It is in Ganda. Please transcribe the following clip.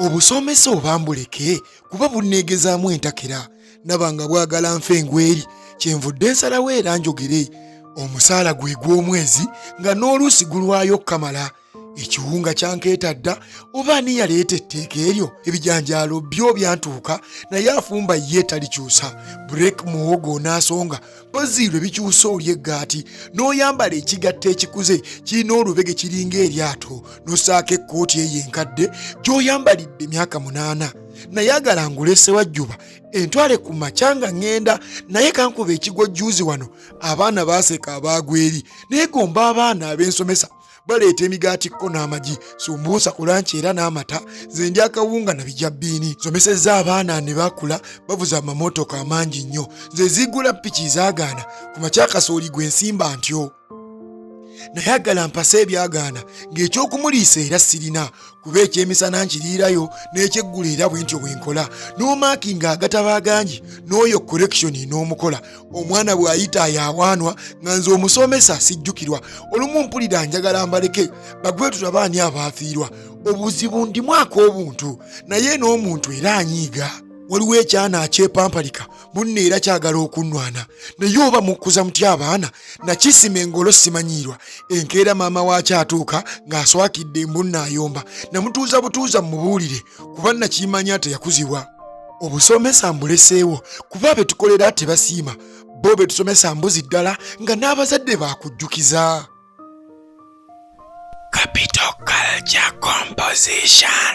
obusomesa oba mbuleke kuba bunneegezaamu entakera naba nga bwagala nfa engweri kyenvudde nsalawo era njogere omusaala gwe gw'omwezi nga n'oluusi gulwayo okukamala ekiwunga kyankeeta dda oba ani yaleeta etteeka eryo ebijanjaalo byo byantuuka naye afumba ye talikyusa break muwogo onaasonga mpozi lwe bikyusa oli eggaati n'oyambala ekigatta ekikuze kirina olubege kiringa eryato n'osaako ekkooti eyo enkadde gy'oyambalidde emyaka munaana nayagala ngulese wajjuba entwale ku makya nga ŋŋenda naye kankuba ekigwa jjuuzi wano abaana baaseka abaagweri neegomba abaana ab'ensomesa baleeta emigaati kko n'amagi sumbuusa ku lanki era n'amata ze ndi akawunga na bijja bbiini somesezza abaana ne bakula bavuza amamotoka amangi nnyo nze ziggula piki zaagaana ku makyakasooli gwe nsimba ntyo nayagala mpasa ebyagaana ng'ekyokumuliisa era sirina kuba ekyemisana nkiriirayo n'ekyeggulo era bwe ntyo bwe nkola n'omaakinga agataba agangi n'oyo korekishoni n'omukola omwana bw'ayita yawaanwa nga nze omusomesa sijjukirwa olumu mpulira njagala mbaleke bagwe tulabaani abaafiirwa obuzibu ndimwako obuntu naye n'omuntu era anyiiga waliwo ekyana akyepampalika munno era kyagala okunnwana naye oba mukkuza muty abaana nakisima engolo simanyiirwa enkeera maama waakyo atuuka ng'aswakidde embunna ayomba namutuuza butuuza mumubuulire kuba nakimanya teyakuzibwa obusomesa mbuleseewo kuba be tukolera tebasiima bo be tusomesa mbuzi ddala nga n'abazadde baakujjukiza capital culture composition